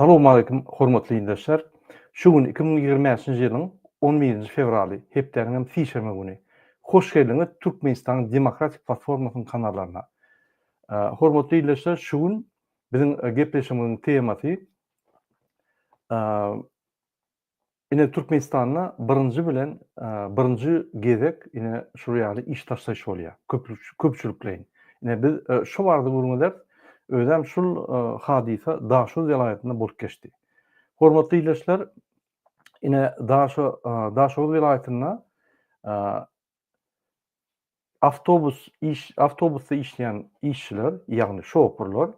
Salam aleýkum hormatly ildeşler. Şu gün iki müň ýigrimi bäşinji ýylyň on birinji fewraly, hepdäniň hem sişenbe güni. Hoş geldiňiz Türkmenistanyň Demokratik Platformasynyň kanallaryna. Hormatly ildeşler, şu gün biziň gepleşigimiziň temasy Ine Türkmenistanda birinji bilen birinji gezek ine şul ýaly iş taşlaýyş bolýar. Köpçülikleýin. Ine biz şu barada gürrüň ederis. Özem şul hadysa Daşoguz welaýatynda bolup geçdi. Hormatly ildeşler, ine Daşoguz welaýatynda awtobus iş awtobusda işleýän işçiler, ýagny şopurlar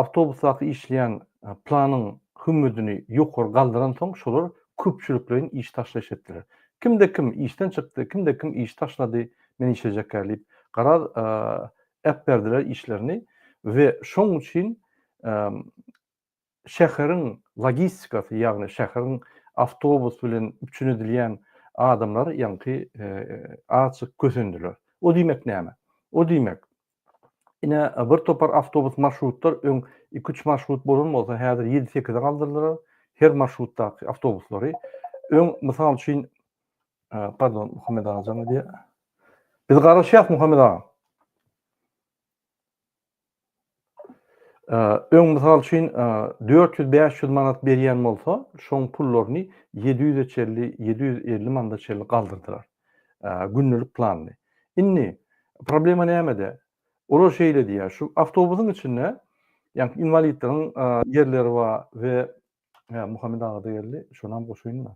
awtobusdaky işleýän planyň hümmüdini ýokary galdyransoň, şolar köpçülikleýin iş taşlaýyş etdiler. Kimde kim işden çykdy, kimde kim iş taşlady, men işejekä diýip, garaz äpberdiler işlerini we şoň üçin şäheriň logistikasy, ýagny şäheriň awtobus bilen üpjün edilýän adamlary ýaňky azajyk kösendiler. O diýmek näme? O diýmek, ine, bir topar awtobus marşrutlar, öň iki-üç marşrut bolan bolsa, häzir ýedi-sekize galdyrdylar her marşrutdaky awtobuslary. Öň, mysal üçin, pardon, Muhammet aga jaň edýär. Biz garaşýas, Muhammet aga. Öň mysal üçin dört ýüz, bäş ýüz manat berýän bolsa, şoň pullaryny ýedi ýüze çenli, ýedi ýüz elli manada çenli galdyrdylar. Gündelik planyny. Indi problema nämede? Olar şeýle diýýär, şu awtobusyň içinde, ýagny inwalidleriň ýerleri bar we Muhammet aga-da geldi, şonam goşaýyn-da.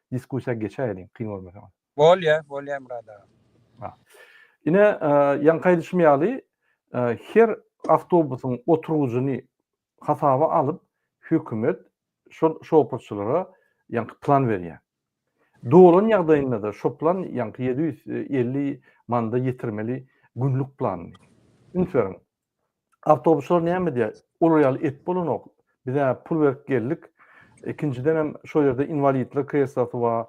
diskussiýa geçäýeliň kyn görmeseňiz. Bolýa, bolýa Murad aga. Ha. Ine, ýaňky aýdyşym ýaly, her awtobusyň oturgyjyny hasaba alyp, hökümet şol şoferçylara ýaňky plan berýär. Dolan ýagdaýynda-da şo plan ýaňky ýedi ýüz elli manda ýetirmeli günlük planyny. Üns beriň, Awtobuslar näme diýýär? Olar ýaly et bolanok. Biz-ä pul berip geldik. Ikinjiden hem şol ýerde inwalidler kreslosy bar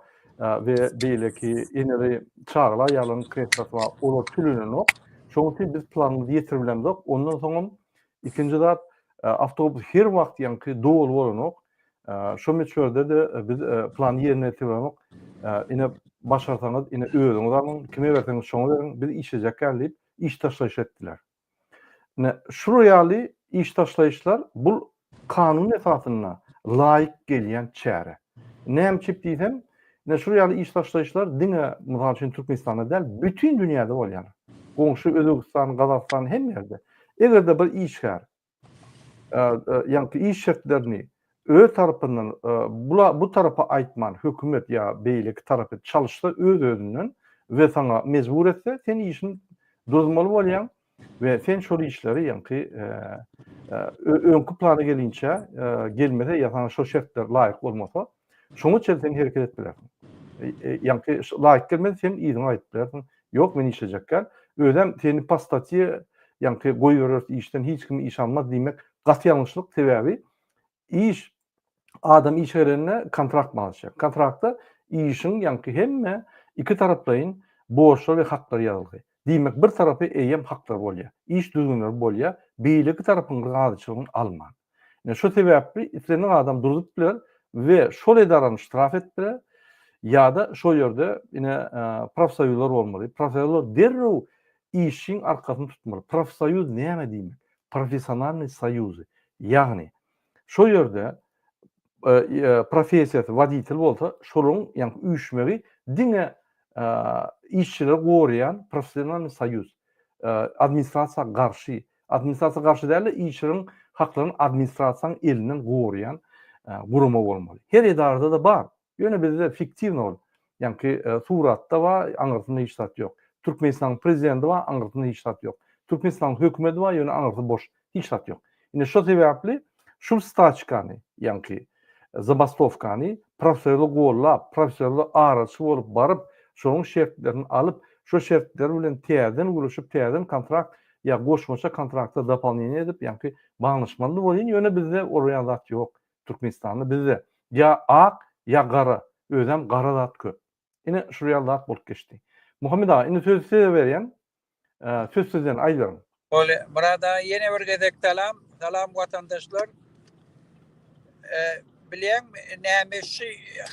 we beýleki eneli çagalar aýallaryň kreslosy bar. Olar tölenenok. Şonuň üçin biz planymyzy ýetirip bilemzok. Ondan soň hem ikinji zat awtobus her wagt ýaňky doly bolanok. Şo möçberde-de biz plany ýerine ýetirip bilemok. Ine başarsaňyz, ine özüňiz alyň, kime berseňiz şoňa beriň, biz işlejekgän diýip, iş taşlaýyş etdiler. Ine, şular ýaly iş taşlaýyşlar bul kanun esasynda laýyk gelýän çäre. Näme üçin diýsem, ine şular ýaly iş taşlaýyşlar diňe mysal üçin Türkmenistanda däl, bütin dünýäde bolýar. Goňşy Özbegistan, Gazagystan hemme ýerde. Eger-de bir işgär ýaňky iş şertlerini öz tarapyndan bu tarapa aýtman, hökümet ýa beýleki tarapy çalyşsa öz-özünden we saňa mejbur etse, sen işini duruzmaly bolýaň we sen şol işleri ýaňky öňki plana gelinçä gelmese ýa saňa şo şertler laýyk bolmasa, Şoň üçin sen hereket edip bilersiň. Ýaňky laýyk gelmedi, sen yzyňa gaýdyp bilersiň. Ýok, men işlejekkä. Özem seni po statýe ýaňky goýbereris işden, hiç kim iş almaz diýmek gaty ýalňyşlyk, sebäbi iş adam işe gelende kontrakt baglaşýar. Kontraktda işiň ýaňky hemme iki taraplaýyn borçlar we haklar ýazylgy. Diýmek, bir tarapy eýýäm haklary bolýar, iş düzgünleri bolýar, beýleki tarapyň razyçylygyny alman. Ine, şo sebäpli islendik adam duruzyp biler we şol edarany ştraf edip biler ýa-da şol ýerde ine profsoýuzlar bolmaly. Profsoýuzlar derrew işçiň arkasyny tutmaly. Profsoýuz näme diýmek? Professionalnyý soýuzy. Ýagny, Şo ýerde professiýasy woditel bolsa, şolaryň, ýagny üýşmegi diňe işçileri goraýan professionalnyý soýuz. Administrasiýa garşy, administrasiýa garşy däl-de, işçileriň haklaryny administrasiýanyň elinden goraýan gurama bolmaly. Her edarada-da bar, Ýöne bizde fiktiwny ol. Ýaňky suratda bar, aňyrsynda hiç zat ýok. Türkmenistanyň prezidenti bar, aňyrsynda hiç zat ýok. Türkmenistanyň hökümeti bar, ýöne aňyrsy boş, hiç zat ýok. Indi şo sebäpli şul staçkany, ýaňky zabastowkany professorly gollap, professorly araçy bolup baryp, şonuň şertlerini alyp, şo şertler bilen täzeden gürleşip, täzeden kontrakt ýa goşmaça kontrakta dopolneniýe edip, ýaňky baglaşmaly bolýyn, ýöne bizde ol ýaly zat ýok. Türkmenistanda bizde ýa ak ýa gara özem gara zat köp. Ine şul ýaly zat bolup geçdi. Muhammet aga indi sözi size berýän. Söz sizden aýdyberiň. Bolýa Myrat aga ýene bir gezek salam. Salam watandaşlar. Bilýäňmi näme şu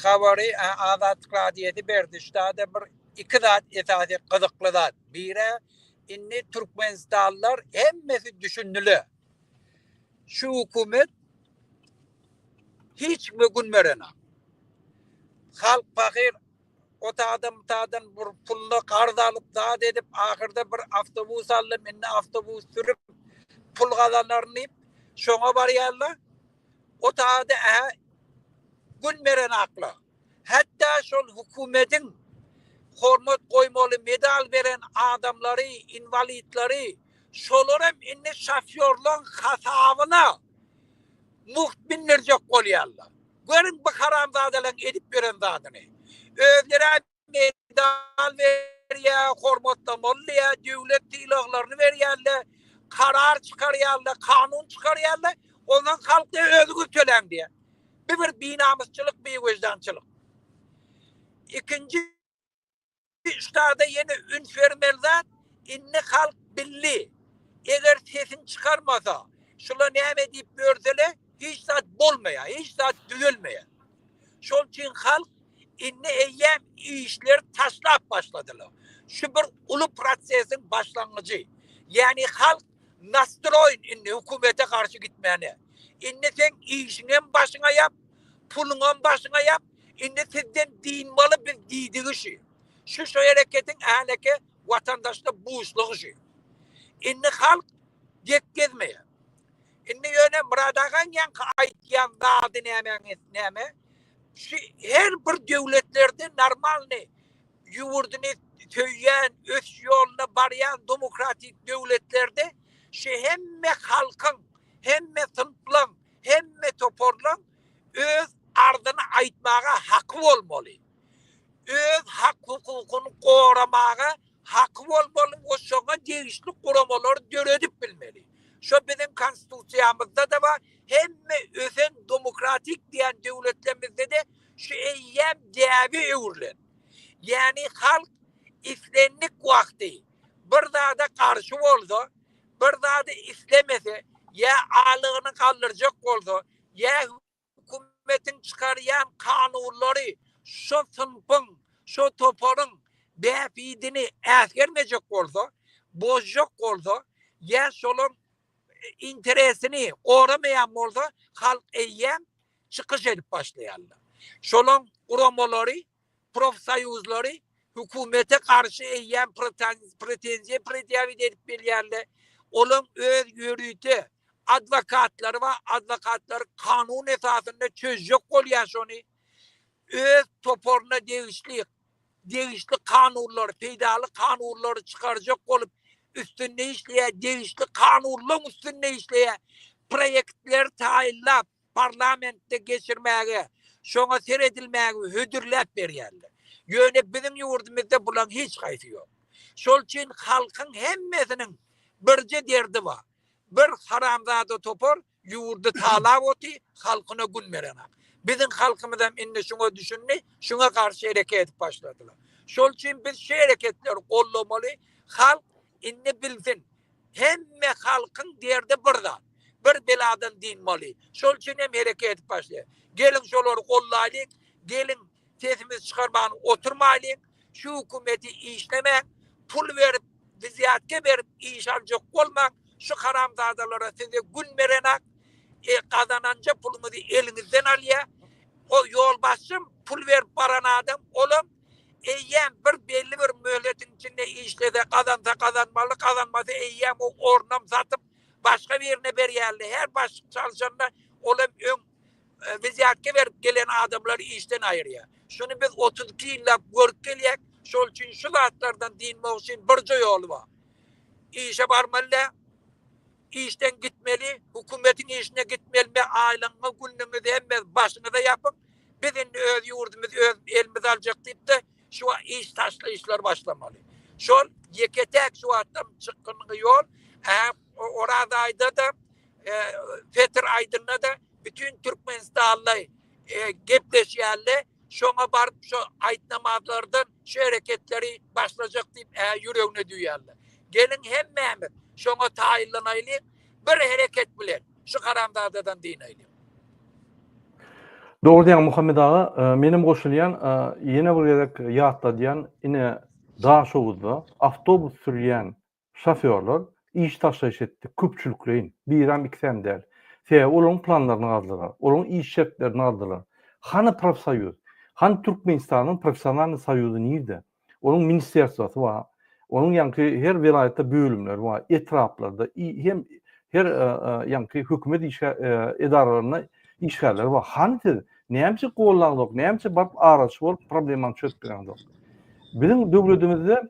habary Azatlyk radiýasy berdi. Şdada bir iki zat esasy gyzykly zat. Bire indi Türkmenistanlylar hemmesi düşündiler. Şu hökümet hiç kime gün berenok. Halk pahyr o taýdan bu taýdan bir puluna karz alyp zat edip ahyrda bir awtobus aldy indi awtobus sürüp pul gazanaryn diýip şoňa barýarlar. O taýda ähä gün berenaklar. Hatda şol hökümetiň hormat goýmaly medal beren adamlary, inwalidleri Şolar hem indi şofýorlaryň hasabyna mugt mindirjek bolýarlar. Görüň bu haramzadalaryň edip ýören zadyny. Özlerä medal berýär, hormatlamaly diýýär, döwlet sylaglaryny berýärler, karar çykarýarlar, kanun çykarýarlar, onsoň halk diýýär özüňiz töläň diýýär. Bu bir binamysçylyk, biwejdançylyk. Ikinji Şu çagda ýene üns bermeli zat, indi halk bildi. Eger sesini çykarmasa, şular näme diýip ýörsele, hiç zat bolmaýar, hiç zat düzelmeýär. Şol üçin halk indi eýýäm işleri taşlap başladylar. Şu bir uly prosesiň başlangyjy. Ýagny halk Nastroýn indi hökümete garşy gitmäne. Indi seň işiňem başyňa ýap, puluňam başyňa ýap, indi sizden dynmaly biz diýdigi şü. Şü şü hereketiň häleki watandaşda buşlugy şü. Indi halk gep gezmeýär. Indi ýöne Myrat agaň ýaňky aýtýan zady nämäň esnämi? Şü her bir döwletlerde normalny ýurduny söýýän, ösüş ýolunda barýan demokratik döwletlerde şu hemme halkyň, hemme synplaň, hemme toparlaň öz arzyny aýtmaga haky bolmaly. Öz hak-hukukyny goramaga haky bolmaly we şoňa degişli guramalary döredip bilmeli. Şo biziň Konstitusiýamyzda-da bar, hemme ösen demokratik diýen döwletlerimizde-de Şu eýýäm däbe öwrülen. Ýagny halk islendik wagty bir zada garşy bolsa, bir zady islemese, ýa alygyny galdyrjak bolsa, ýa hökümetiň çykarýan kanunlary şo synpyň, şo toparyň bähbidini äsgermejek bolsa, bozjak bolsa, ýa şolaň interesini goramaýan bolsa halk eýýäm çykyş edip başlaýarlar. Şolaň guramalary, profsoýuzlary hökümete garşy eýýäm pretenziýa predýawit edip bilýärler. Olaň öz ýörite adwokatlary bar, adwokatlary kanun esasynda çözjek bolýar şony. Öz toparyna degişli degişli kanunlary, peýdaly kanunlary çykarjak bolup, üstünde işleýär, degişli kanunlaryň üstünde işleýär, proýektleri taýynlap, parlamentde geçirmäge, şoňa seredilmäge hödürläp berýärler. Ýöne biziň ýurdumyzda bularyň hiç haýsy ýok. Şol üçin halkyň hemmesiniň birje derdi bar. Bir haramzada topar Ýurdy talap oty, halkyna gün berenok. Biziň halkymyzam indi şuňa düşündi, şuňa garşy hereket edip başladylar. Şol üçin biz şu hereketleri gollamaly, halk indi bilsin, hemme halkyň derdi bir zat, bir beladan dynmaly. Şol üçin hem hereket edip başlaýar. Geliň şolary gollaýlyň, geliň sesimizi çykarman oturmaýlyň. Şu hökümeti işlemäň, pul berip, wzýatka berip iş aljak bolmaň, şu haramzadalara size gün berenak, e, gazananja puluňyzy eliňizden alýa. O ýolbaşçym, pul berip baran adam, olam eýýäm bir belli bir möhletiň içinde işlese, gazansa gazanmaly, gazanmasa eýýäm o ornam satyp, başga birine berýärler. Her başlyk çalşanda olam öň Wizýatge berip gelen adamlary işden aýyrýar. Şuny biz otuz iki ýyllap görüp gelýäk. Şol üçin şu zatlardan dynmak üçin birje ýoly bar. Işe barmaly däl. Işden gitmeli, hökümetiň işine gitmeli we aýlygyňyzy, günlügiňizi hemmenizi başyňyza ýapyň. Biz indi öz ýurdumyzy öz elimize aljak diýip-de, şu wagt iş taşlaýyşlary başlamaly. Şol ýeke-täk şu wagtam çykgynly ýol. Hä, Oraz aýda-da Petr aýdynda-da bütin türkmenistanly gepleşýärler, şoňa baryp şo aýtnamazlardan şu hereketleri başlajak diýip ä ýüregine düwýärler. Geliň hemmämiz şoňa taýynlanaýlyň, bir hereket bilen şu haramzadadan dynaýlyň. Dogry diýýäň Muhammet aga, menem goşulýan, ýene bir gezek ýatladýan ine Daşoguzda awtobus sürýän Şofýorlar iş taşlaýyş etdi, köpçülikleýin, biräm, ikisem däl. Sebäbi olaryň planlaryny gazdylar, olaryň iş şertlerini gazdylar. Hany profsoýuz? Hany Türkmenistanyň professionalnyý soýuzy nirde? Onuň ministerswasy bar, onuň ýaňky her welaýatda bölümleri bar, etraplarda i hem her ýaňky hökümet işgä edaralarynda işgärleri bar. Hany siz? Näme üçin gollaňzok, näme üçin baryp araçy bolup problemaňy çözüp bileňzok? Biziň döwledimizde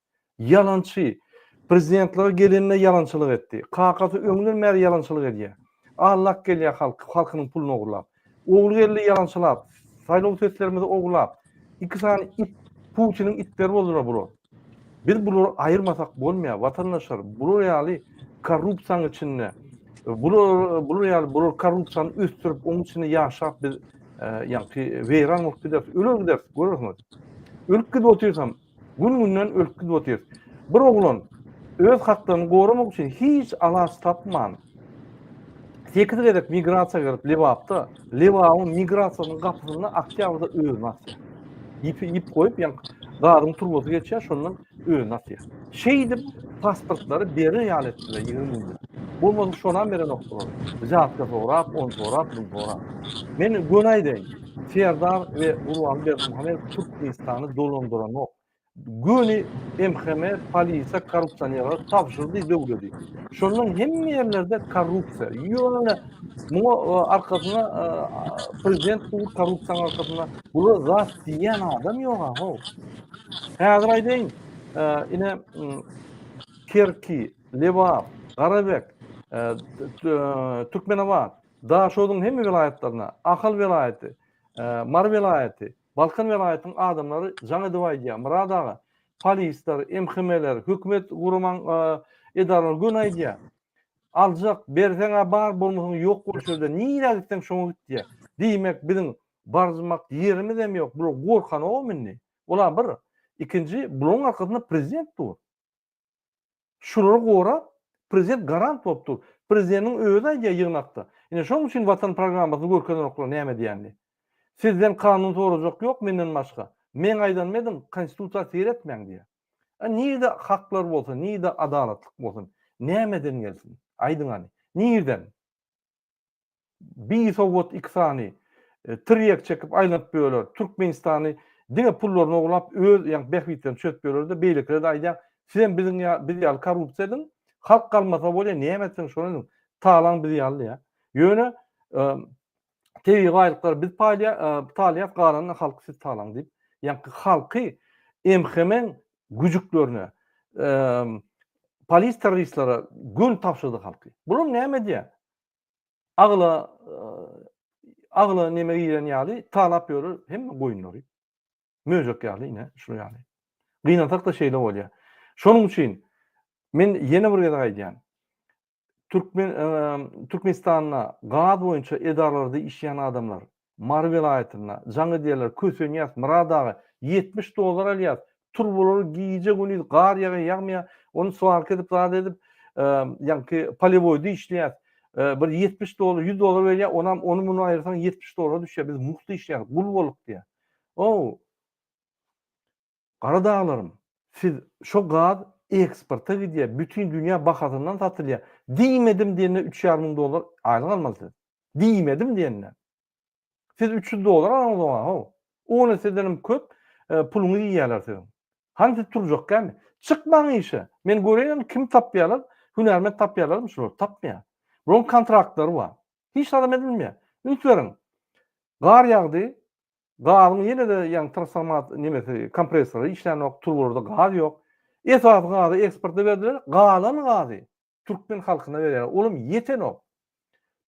Ýalançy. Prezidentlige gelende ýalançylyk etdi. Kakasy öňden bäri ýalançylyk edýär. Allak gelýär halk, halkynyň puluny ogurlap. Ogly geldi ýalançylap. Saýlaw seslerimizi ogurlap. Iki sany it, Putiniň itleri boldular bular. Biz bulary aýyrmasak bolmaýar, watandaşlar. Bular ýaly korrupsiýanyň içinde, bular, bular ýaly, bular korrupsiýany ösdürip, oň içinde ýaşap biz, ýaňky weýran bolup gideris, öler gideris, görersiňiz. Ölüp gidip otyrsam, Gün-günden ölüp gidip otyr. Bir oglan öz haklaryny goramak üçin hiç alaç tapman, sekiz gezek migrasiýa girip Lebapda, Lebabyň migrasiýasynyň gapysynda oktýabrda özüni atýar. Ýip ýip goýup, ýa gazyň turbasy geçýär, şondan özüni atýar. Şeýdip pasportlary berer ýaly etdiler 20 günde. Bolmasa şonam berenokdylar. Žabka sorap, on sorap, bunu sorap. Men göni aýdaýyn. Serdar we Gurban Berdimuhamedow Türkmenistany dolandyranok. Göni MHM polisiýa korrupsionerlere tabşyrdy döwledi. Şondan hemme ýerlerde korrupsiýa. Ýöne muňa e, arkasyna e, prezident bu korrupsiýanyň arkasyna bular zat diýen adam ýok ha. Häzir aýdaýyn, e, ine Kerki, Lebap, Garabek, Türkmenabat, Daşoguzyň hemme welaýatlaryna, Ahal welaýaty, Mary welaýaty, Balkan welaýatynyň adamlary jaň edip aýdýar, Myrat aga, polisler, MHM-ler, hökümet guraman edaralary göni aýdýar, Aljak, berseň-ä bar, bolmasaň ýok bol şerde, nirä gitseň şoňa git diýýär. Diýmek, biziň barmak ýerimizem ýok, bular gorkanogam indi. Ol-a bir. Ikinji, bularyň arkasynda prezident dur. Şulary gorap, prezident garant bolup dur. Prezidentiň özi aýdýar ýygnakda. Ine şonuň üçin Watan programmasyny görkezenoklar näme diýýänini. Sizden kanun sorajak ýok menden başga. Meň aýdanymy ediň, konstitusiýa seretmäň diýýär. A nirde haklar bolsa, nirde adalatlyk bolsun? Nämeden gelsin? Aýdyň hany. Nirden? Bi sowat iki sany tirýek çekip aýlanyp ýörler. Türkmenistany diňe pullaryny oglap öz ýa bähbitlerini çözüp ýörlerde beýlekilerde aýdýan sizem biziň ýa biz ýaly korrupsiýa ediň halk galmasa bolýa näme etseň şony ediň talaň biz ýaly diýä. Ýöne tebigy baýlyklary biz paýlaýa talaýas galanyny halky siz talaň diýip ýa halky MHM-iň güjüklerine, polis terroristlere gül tapşyrdy halky. Bular näme diýä? Agla agla näme giren ýaly talap ýörür hemme goýunlary. Möjek ýaly ine şu ýaly. Gynansak da şeýle bolýar. Şonuň üçin men ýene bir gezek aýdýan. Türkmen Türkmenistanda gaz boýunça edaralarda işleýän adamlar. Mary welaýatynda jaň edýärler, kösenýäs, Myrat aga, ýetmiş dollar alýas, turbalar gije gündiz gar ýagýa ýagmaýa, ony swarka edip zat edip, ýaňky polewoýda işleýäs, bir ýetmiş dollar, ýüz dollar berýär, onam ony muny aýyrsaň ýetmiş dollara düşýär, biz mugt işleýäris, gul bolduk diýýär. Ow! Garadaglarym siz şo gaz eksporta gidýär bütin dünýä bahasyndan satylýar diýmedim diýende üç ýarym müň dollar aýlyk almaly siz diýmedim diýende siz üç ýüz dollar alaňyz oňa how ony sizenem köp puluňyzy iýýärler siziň hany siz turjak kämi çykmaň işe men göreýin kim tapýarlar hünärment tapýarlarmy şular tapmaýar bularyň kontraktlary bar hiç zat hem edilmeýär üns beriň gar ýagdy Gazyň ýene-de ýagny transformat nimesi kompressory işlänok, turbalarda gaz ýok. Esasy gazy eksporta berdiler, galan gazy türkmen halkyna berýärler. Olam ýetenok.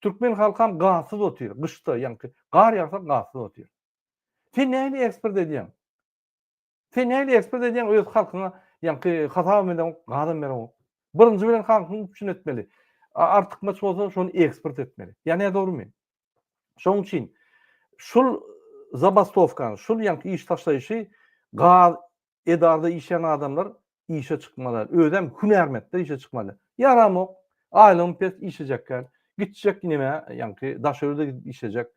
Türkmen halkam gazsyz otyr, gyşda ýagny gar ýagsa gazsyz otyr. Sen näme eksport edýäň? Sen nähili ekspert edýäň öz halkyňa ýaňky hasabam edäňok, gazam bereňok. Birinji bilen halkyň üçin etmeli. Artykmaç bolsa şony ekspert etmeli. Ýa ne dogrumy? Şoň üçin şul zabastowkany, şul ýaňky iş taşlaýşy gaz edarada işleýän adamlar işe çykmaly, özem hünärmetde işe çykmaly. Ýaramok, aýlygym pes, işlejekkäl, gitjek nämä, ýaňky daş ýurda gidip işlejek,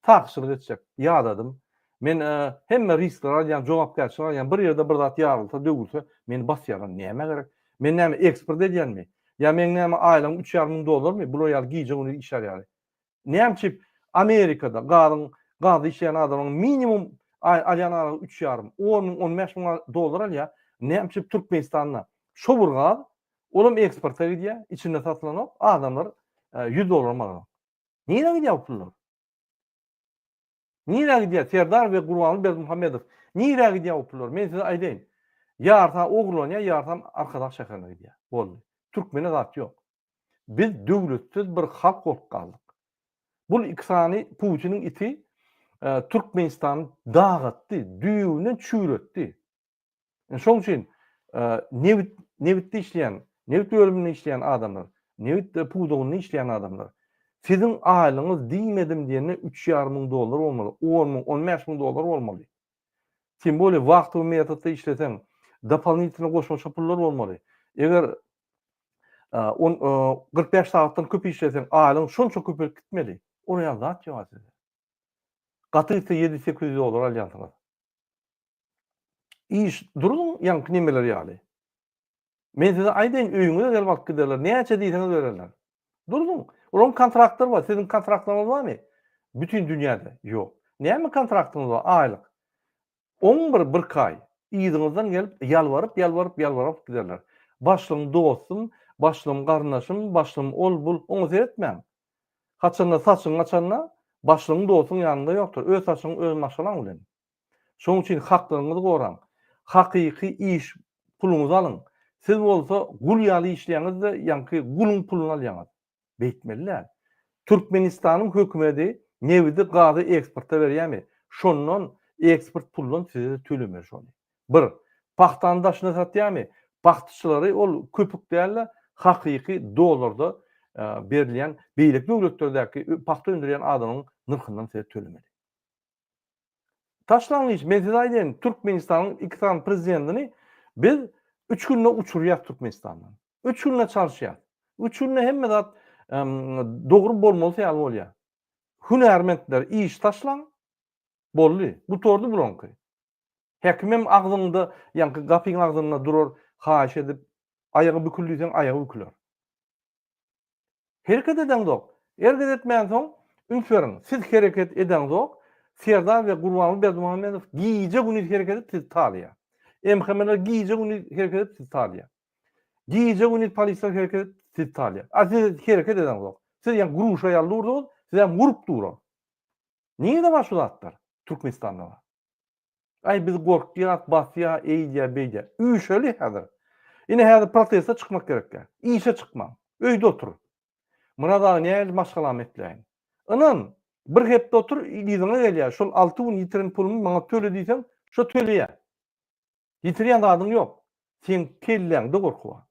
sakçylyk etjek. Ýadadym. Men hemme risklary alýan, jogapkärçiligi alýan, bir ýerde bir zat ýarylsa, döwülse, meni basýarlar. Nämä gerek? Men näme, eksport edýänmi? Ýa meň näme, aýlygym üç ýarym müň dollarmy? Bular ýaly gije-gündiz işlär ýaly. Näme üçin Amerikada gazyň gaz işleýän adamyň minimum aý alýan aralygy üç ýarym, on müň, on bäş müň dollar alýar. Näme üçin Türkmenistanda şo bir gaz, ol hem eksporta gidýär, içinde satylanok, adamlar e, ýüz dollarym alanok. Nirä gidýär bu pullar? Nirä gidýär Serdar we Gurbanguly Berdimuhamedow? Nirä gidýär bu pullar? Men size aýdaýyn. Ýarysan ogurlanýar, ýarysan Arkadag şäherine gidýär. Boldy. Türkmene zat ýok. Biz döwletsiz bir halk bolup galdyk. Bul iki sany Putiniň iti Türkmenistany dagatdy, düýewinden çüýretdi. Indi şoň üçin nebit nebitde işleýän, nebit bölüminde işleýän adamlar, nebit pudagynda işleýän adamlar siziň aýlygyňyz diýmedim diýende 3,5 müň dollar bolmaly, 10 müň, 15 müň dollar bolmaly. Tim bolýar, wagtyň metodda işleseň, dopolitne goşmaça pullar bolmaly. Eger on 45 sagatdan köp işleseň, aýlygyň şonça köpelip gitmeli. Ol ýa zat ýok size. Gaty gitse 700-800 dollar alýansyňyz. Iş, duruň ýaňky nemeler ýaly. Men size aýdaýyn, öýüňize gelip alyp giderler, näçe diýseňiz bererler. Duruň, olaryň kontraktlar bar, siziň kontraktlaryňyz barmy? Bütin dünýäde, ýok. Näme kontraktymyz bar, aýlyk. On bir, birki aý. Yzyňyzdan gelip, ýalbaryp, ýalbaryp, ýalbaryp alyp giderler. Başlygyň dostum, başlygyň garyndaşym, başlygym ol, bul, oňa seretmäň. Haçanda saçyň açanda, başlygyň dostuň ýanynda ýokdur, öz saçyň öz maşgalaň bilen. Şonuň üçin haklaryňyzy goraň. Hakyky iş puluňyzy alyň. Siz bolsa gul ýaly işleýäňiz-de, ýaňky guluň puluny alýaňyz. Beýtmeli däl. Türkmenistanyň hökümedi nebidi, gazy eksporta berýärmi? Şondan, eksport puldan size-de tölemeli şony. Bir. Pagtany daşyna satýarmy? Pagtaçylary ol köpük däl-de, hakyky dollarda berilýän, beýleki döwletlerdäki pagta öndürýän adamyň nyrhyndan size tölemeli. Taşlangyç, men size aýdaýyn, Türkmenistanyň iki sany prezidentini biz üç günde uçurýas Türkmenistandan. Üç günde çalyşýas. Üç günde hemme zat dogry bolmalysy ýaly bolýar. Hünärmentler iş taşlan, boldy, gutardy bulaňky. Häkimem agzyňda, ýaňky gapyň agzynda durar, haýyş edip, aýagy bükül diýseň, aýagy büküler. Hereket edeňzok. Erget etmänsoň, üns beriň. Siz hereket edeňzok, Serdar we Gurbanguly Berdimuhamedow gije-gündiz hereket edip sizi talaýa. MHM-ler gije-gündiz hereket edip sizi talaýa. Gije-gündiz polisler hereket edip sizi talaýa. A siz hereket edeňzok. Siz ýa gruşa ýaly durdyňyz, siz hem gurup duruň. Nirede bar şu zatlar? Türkmenistanda bar. Aý biz gorkýas, basýa, eýdýä, beýdýä. Üýşeli häzir. Ine häzir proteste çykmak gerekkä. Işe çykmaň. Öýde otur. Myrat aga nähili maşgalamy etläýin. Ynam, bir hepde otur yzyňa gelýä. Şol alty gün ýitiren pulumy maňa töle diýseň, şo töleýä. Ýitirýän zadyň ýok. Seň kelläňde gorky bar.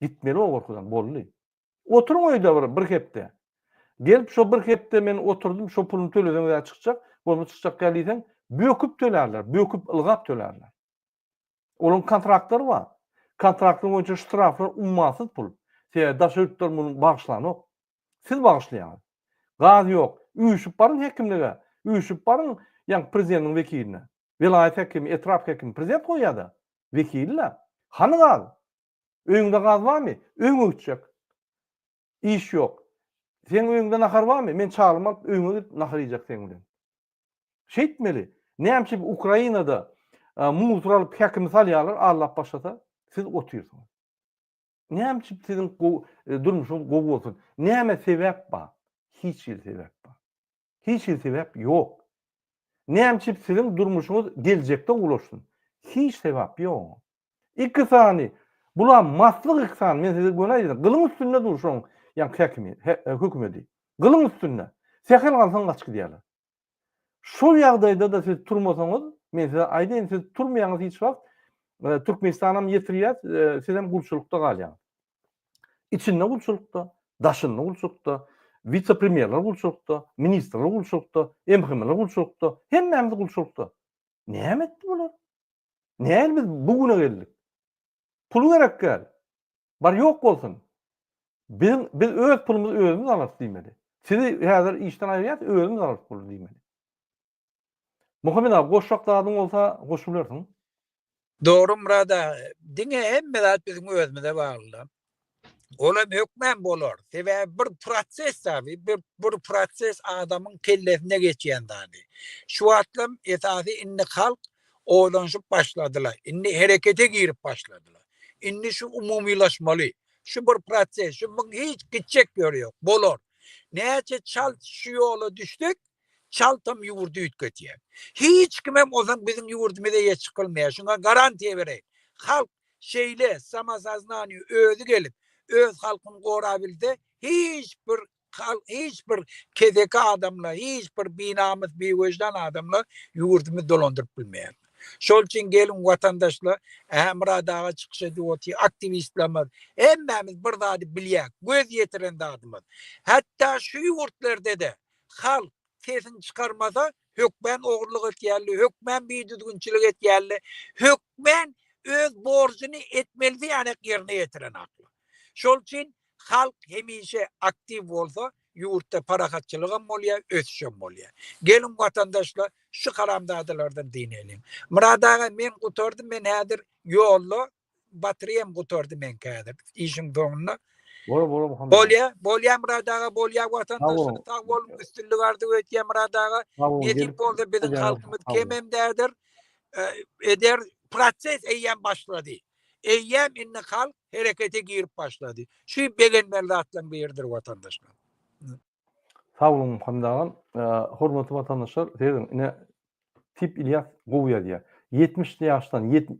Gitmeli o gorkudan, boldy. Oturyň öýde bir, bir hepde. Gelip şo bir hepde men oturdym, şo puluny töleseňiz-ä çykjak, bolmasa çykjak däl diýseň, böküp tölärler, böküp, ylgap tölärler. Olaryň kontraktlary bar. Kontraktlar boýunça ştraflar ummasyz pul. Sebäbi daşary ýurtlar muny bagyşlanok. Siz bagyşlaýaňyz. Gaz ýok. Üýşüp baryň häkimlige, üýşüp baryň, ýaňky prezidentiň wekiline. Welaýat häkimi, etrap häkimi prezident goýýa-da, wekili-le. Hany gaz? Öýüňde gaz barmy? Öýüňe gitjek. Iş ýok. Seň öýüňde nahar barmy? Men çaglymy alyp öýüňe gidip nahar iýjek seň bilen. Şeýtmeli. Näme üçin Ukrainada muzor alyp häkimi salýarlar allap başlasa siz otyrsyňyz. Näme üçin siziň durmuşyňyz gowy bolsun? Näme sebäp bar? Hiç hili sebäp bar. Hiç hili sebäp ýok. Nämçip siziň durmuşyňyz geljekde ulaşsyn. Hiç sebap ýok. Iki sany bulam maslyk iki sany men size göni aýdýan gylyň üstünde dur şoň ýan häkimi hökümedi. Gylyň üstünde. Sähel galsaň gaç gidýärler. Şol ýagdaýda da siz turmasaňyz men size aýdýan siz turmaýaňyz hiç wagt Türkmenistanam ýetirýär sizem gulçulykda galýaňyz. Içinde gulçulykda, daşynda gulçulykda, wise-premýerler gulçulykda, ministrler gulçulykda, MHM-ler gulçulykda, hemmämiz gulçulykda. Näme etdi bular? Nähili biz bu güne geldik? Pul gerek däl. Bar ýok bolsun. Biziň biz öz pulumyzy özümiz alarys diýmeli. Sizi häzir işden aýyrýas, özümiz alarys puly diýmeli. Muhammet aga goşjak zadyň bolsa goşup bilersiň. Dogry Murad aga. Diňe hemme zat biziň özümize baglyda. Olam hökmän bolar. Sebäbi bir proses tabi bir bir proses adamyň kellesinde geçýän zady. Şu wagtlam esasy indi halk oýlanyşyp başladylar. Indi herekete girip başladylar. Indi şu umumylaşmaly. Şu bir proses. Şu muň hiç gitjek ýöri ýok. Bolar. Näçe çalt şu ýola düşsek Çaltam ýurdy üýtgedýär. Hiç kimem ozan biziň ýurdumyza eýe çykylmaýar. Şuňa garantiýa bereýin. Halk şeýle samosoznaniýe özi gelip, öz halkyny gorabilse, hiç bir halk, hiç bir keseki adamla, hiç bir binamys, biweždan adamla ýurdumyzy dolandyryp bilmeýär. Şol üçin geliň watandaşlar, ähä Myrat aga çykyş edip otyr, aktiwistlerimiz, hemmämiz bir zady bilýäk, göz ýetiren zadymyz, hatda şu ýurtlarda-da Halk, sesini çykarmasa, hökmän ogurlyk etýärdi, hökmän bidüzgünçilik etýärdi, hökmän öz borjuny etmeli diýýänek ýerine ýetirenaklar. Şol üçin halk hemişe aktiw bolsa, ýurtda parahatçylygam bolýar, ösüşem bolýar. Geliň, watandaşlar, şu haramzadalardan dyneliň. Myrat aga, men gutardym, men häzir ýolda, Batrýam gutardy meňki häzir. Işiň soňunda. Bol bol Muhammet. Bolýa, bolýa Murad aga, bolýa watandaşlar sag boluň, üstünlik arzuw etýän Murad aga. Nesip bolsa biziň halkymyz kemem däldir. Eder proses eýýäm başlady. Eýýäm indi halk herekete girip başlady. Şu begenmeli zatlaryň biridir watandaşlar. Sag boluň Muhammet agam. Hormatly watandaşlar, seýrediň, ine Tip Ilyas gowy ýazýar. 70 ýaşdan 7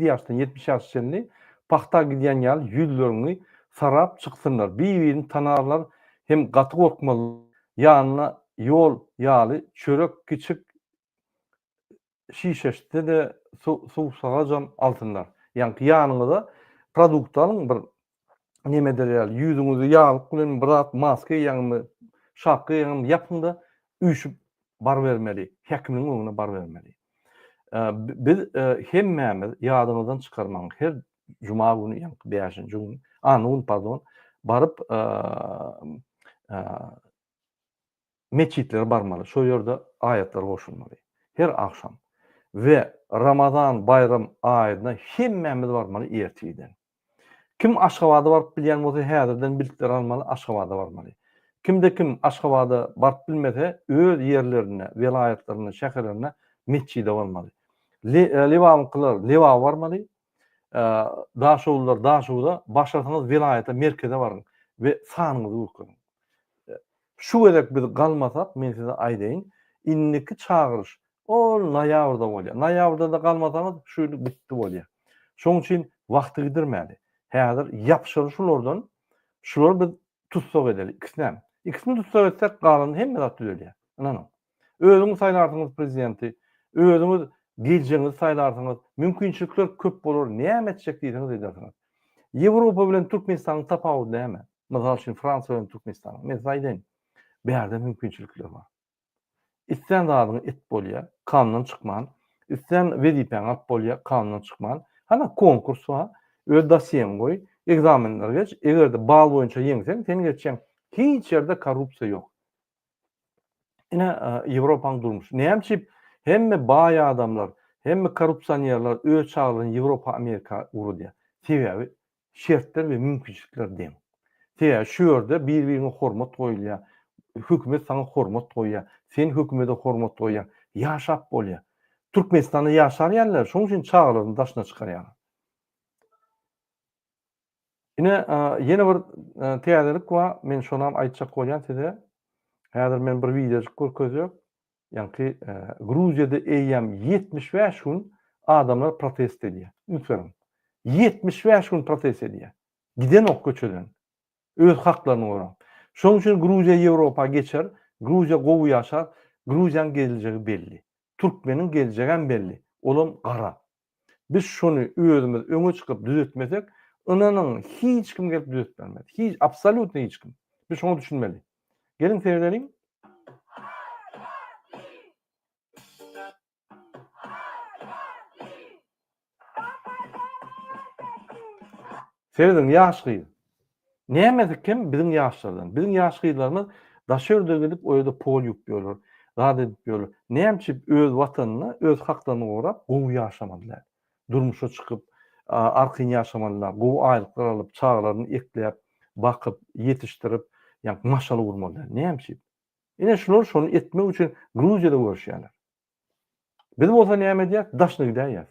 ýaşdan 70 ýaşa çenli pahta gidýän ýaly ýüzleriňi sarap çyksynlar. Bir-birini tanarlar hem gaty gorkmazlar. Ýanyna ýol ýaly çörek kiçik şişeşde-de suwsagajam alsynlar. Ýaňky ýanyňyza produkt alyň bir nemedir ýaly, ýüzüňizi ýaglyk bilen bir zat maska eýäňmi, şapka eýäňmi ýapyň-da, üýşüp barybermeli, hekimiň öňüne barybermeli. Biz hemmämiz ýadyňyzdan çykarmaň, her juma güni, ýaňky bäşinji güni, anna güni, pardon, baryp meçitlere barmaly, şol ýerde aýatlar goşulmaly. Her agşam we Ramazan baýram aýynda hemmämiz barmaly ertirden. Kim Aşgabada baryp bilýän bolsa häzirden biletleri almaly Aşgabada barmaly. Kimde kim Aşgabada baryp bilmese öz ýerlerinde, welaýatlarynda, şäherlerinde metjide barmaly. Lebabynkylar Lebaba barmaly, Daşoguzlylar Daşoguza, başarsaňyz welaýata, merkeze baryň we sanyňyzy görkeziň. Şu gezek biz galmasak, men size aýdaýyn, indiki çagyryş ol noýabrda bolýar. Noýabrda-da galmasaňyz, şu ýyl gitdi bolýar. Şonuň üçin wagty gidirmäli. Häzir ýapyşaly şulardan, şulary biz tussag edeli, ikisinem. Ikisini tussag etsek, galan hemme zat düzelýär. Ynanyň. Özüňiz saýlarsyňyz prezidenti, özüňiz geljegiňizi saýlarsyňyz, mümkinçilikler köp bolar, näme etjek diýseňiz edersiňiz. Ýewropa bilen Türkmenistanyň tapawudy näme? Mysal üçin Fransiýa bilen Türkmenistanyň. Men size aýdaýyn. Bärde mümkinçilikler bar. Islän zadyňy et bolýar, kanundan çykman, islän wezipäňi alyp bolýar, kanundan çykman. Hana konkurs bar, öz dosýeňi goý, ekzamenleri geç, eger-de bal boýunça ýeňseň, seni geçýän hiç ýerde korrupsiýa ýok. Ine, Ýewropanyň durmuşy. Näme üçin hemme baý adamlar, hemme korrupsionerler öz çagalaryny Ýewropa, Amerika ugradýar? Sebäbi şertler we mümkinçilikler deň. Sebäbi şu ýerde bir-biriňe hormat goýulýar, hökümet saňa hormat goýýar, sen hökümede hormat goýýaň, ýaşap bolýar. Türkmenistanda ýaşar ýalylar, şonuň üçin çagalaryny daşyna çykarýarlar. Ine, ýene bir täzelik bar, men şonam aýtjak bolýan size. Häzir men bir wideojyk görkezýän. Ýaňky Gruziýada eýýäm 75 gün adamlar protest edýär. Üns beriň. 75 gün protest edýär. Gidenok köçeden. Öz haklaryny gorap. Şonuň üçin Gruziýa Ýewropa geçer, Gruziýa gowy ýaşar, Gruziýanyň geljegi belli. Türkmeniň geljegem belli. Olam gara. Biz şony özümiz öňe çykyp düzetmesek, ynanyň, hiç kim gelip düzetip bermez. Hiç, absolýutno hiç kim. Biz şoňa düşünmeli. Geliň seredeliň. Serediň ýaş gyz. Nämesi kem biziň ýaşlardan. Biziň ýaş gyzlarymyz daş ýerde gidip o ýerde pol ýuwup ýörler. Zat edip ýörler. Näme üçin öz watanynda öz haklaryny gorap gowy ýaşamalylar. Durmuşa çykyp arkaýyn ýaşamalylar. Gowy aýlyklar alyp çagalaryny ekläp, bakyp, ýetişdirip ýa maşgala gurmalylar. Näme üçin? Ine şular şony etmek üçin Gruziýada göreşýärler. Biz bolsa näme edýäs? Daşyna gidäýýäs.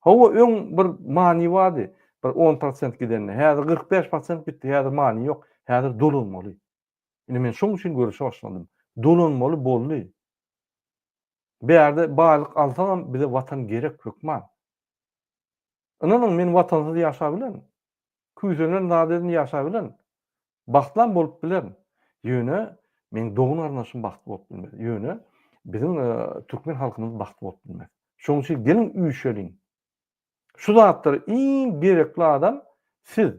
Hawa, öň bir many bardy, bir on prosent gidende, häzir kyrk bäş prosent gitdi, häzir many ýok, häzir dolanmaly. Indi men şoň üçin göreşe başladym. Dolanmaly boldy. Bärde baýlyk alsaňam bize watan gerek hökman. Ynanyň men watansyz ýaşap bilen. Küýsenen zat edin ýaşap bilen. Bagtlam bolup bilerin. Ýöne meň dogan garyndaşym bagtly bolup bilmez. Ýöne biziň türkmen halkymyz bagtly bolup bilmez. Şoň üçin geliň üýşeliň. Şu zatlar iň gerekli adam siz.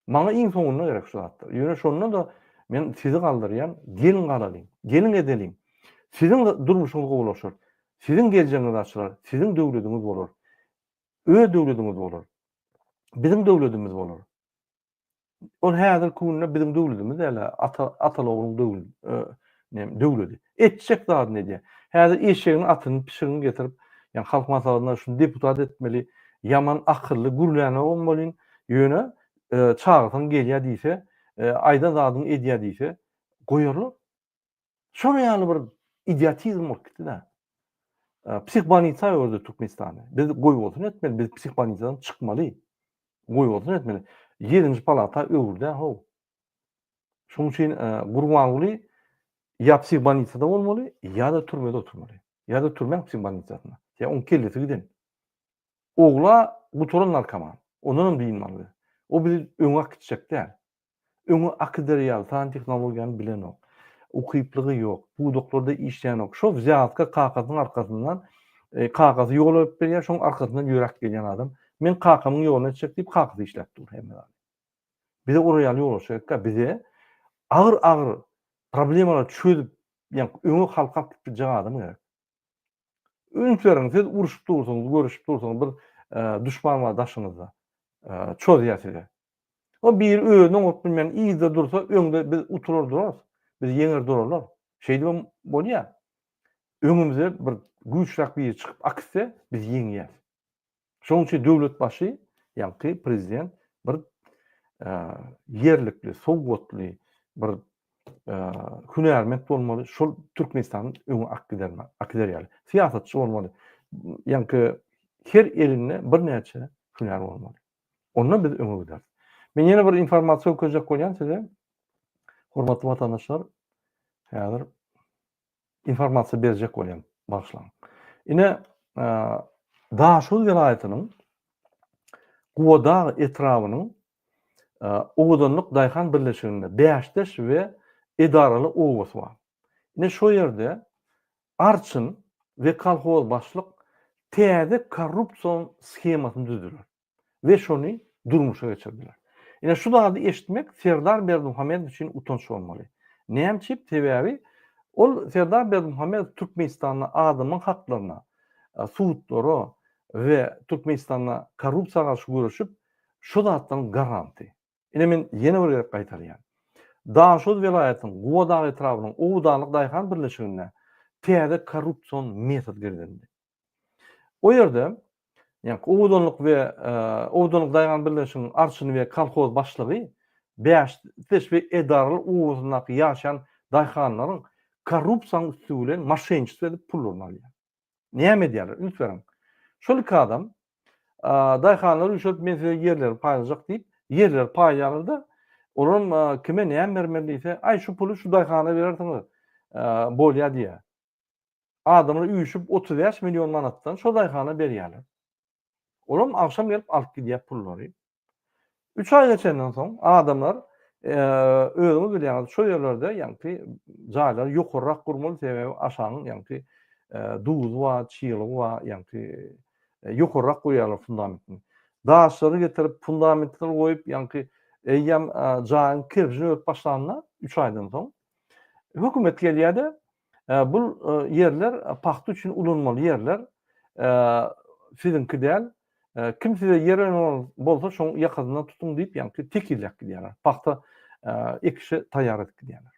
Maňa iň soňunda gerek şu zatlar. Ýöne şonda-da men sizi galdyrýan, geliň galalyň. Geliň edeliň. Siziň durmuşyňyz gowulaşar. Siziň geljegiňiz açylar. Siziň döwlediňiz bolar. Öz döwlediňiz bolar. Biziň döwledimiz bolar. Ol häzirki günde biziň döwledimiz däl-ä, ata, atalogluň döwül, e, nem, döwledi. Etjek zadyny edýär. Häzir eşegiň atyny, pişigini getirip, ýa halk maslahatynda şuny deputat etmeli, ýaman akylly, gürlänogam bolýyn, ýöne, e, çagyrsam gelýär diýse, e, aýdan zadyňy edýär diýse, goýarlar. Şonuň ýaly bir idiotizm bolup gitdi-de. Psihbanica öwrdi Türkmenistany. Biz goýbolsun etmeli, biz psihbanicadan çykmaly. Goýbolsun etmeli. Ýedinji palata öwrüdä how. Şonuň üçin Gurbanguly ýa psihbanicada bolmaly, ýa-da türmede oturmaly. Ýa-da türmäň psihbanicasynda. Ýa oň kellesi giden. Ogla gutaran narkoman. Ondanam dynmaly. O bizi öňe akitjek däl. Öňe akyderýaly san tehnologiýany bilenok. Ukyplygy ýok. Pudaklarda işleýänok. Şo wzýazka kakasynyň arkasyndan kakasy ýol alyp berýär, şoň arkasyndan ýöräp gelýän adam. Men kakamyň ýoluna etjek diýip kakasy işläp dur hemme zady. Bize ora ýaly ýolbaşçy gerekkä. Bize agyr-agyr problemalar çözüp, ýa öňe halka alyp gidip biljek adam gerek. Öýüňi teriň, siz uruşyp dursuňyz, görüşip dursuňyz, bir duşman bar daşyňyzda. Çozýar size. O biri özüni oňuryp bilmän yzda dursa, öňde biz utular durarys. Biz ýeňer durarlar. Şeýdibem bolýar. Öňümizde bir güýçräk biri çykyp akitse, biz ýeňýäs. Şonuň üçin döwlet başy, ýaňky prezident bir ýerlikli, sowgatly, bir hünärment bolmaly, şol Türkmenistany öňe akgider ýaly. Syýasatçy bolmaly. Ýaňky her elinde birnäçe hünär bolmaly. Onda biz öňe gideris. Men ýene bir informasiýa görkezjek bolýan size. Hormatly watandaşlar, häzir informasiýa berjek bolýan bagyşlaň. Ine Daşoguz welaýatynyň Gubadag etrabynyň Owadanlyk daýhan birleşiginde Bäşdeş we Edaraly obasy bar. Ine şo ýerde arçyn we kolhoz başlyk täze korrupsion shemasyny düzdüler. we şony durmuşa geçirdiler. Ine şu zady eşitmek Serdar Berdimuhamedow üçin utanç bolmaly. Näme üçin? Sebäbi ol Serdar Berdimuhamedow Türkmenistanda adamyň haklaryna, e, sudlara we Türkmenistanda korrupsiýa garşy göreşip, şu zatlaryň garanty. Ine men ýene bir gezek gaýtarýan. Daşoguz welaýatynyň Gubadag etrabynyň Owadanlyk daýhan birleşiginde täze korrupsion metod girizildi. O ýerde ýa-da owadanlyk we owadanlyk daýhan birleşiginiň arçyny we kolhoz başlygy bäş tesbih edaralary obasyndaky ýaşaýan daýhanlaryň korrupsiýanyň üsti bilen moşenniçestvo edip pullaryny alýar. Näme edýärler? Üns beriň. Şol iki adam daýhanlary üýşürip men size ýerleri paýlajak diýip ýerleri paýlaýarlar-da, olaram kime näme bermeli diýse, aý şu puly şu daýhana berersiňiz, bolýar diýýär. Adamlar üýşüp otuz bäş million manatdan şo daýhana berýärler. Olam agşam gelip alyp gidýär pullary. Üç aý geçenden soň adamlar özüňiz bilýäňiz şo ýerlerde ýaňky jaýlary ýokarrak gurmaly sebäbi aşagyň ýaňky duzy bar, çylygy bar ýaňky ýokarrak goýýarlar fundamentini. Daşlary getirip fundamentleri goýup ýaňky eýýäm jaýyň kerpijini örüp başlanda üç aýdan soň hökümet gelýärde Bul ýerler pagta üçin ulanmaly ýerler siziňki däl. Kim size ýer öneran bolsa şoň ýakasyndan tutuň diýip ýaňky tekizläp gidýärler. Pagta ekişe taýýar edip gidýärler.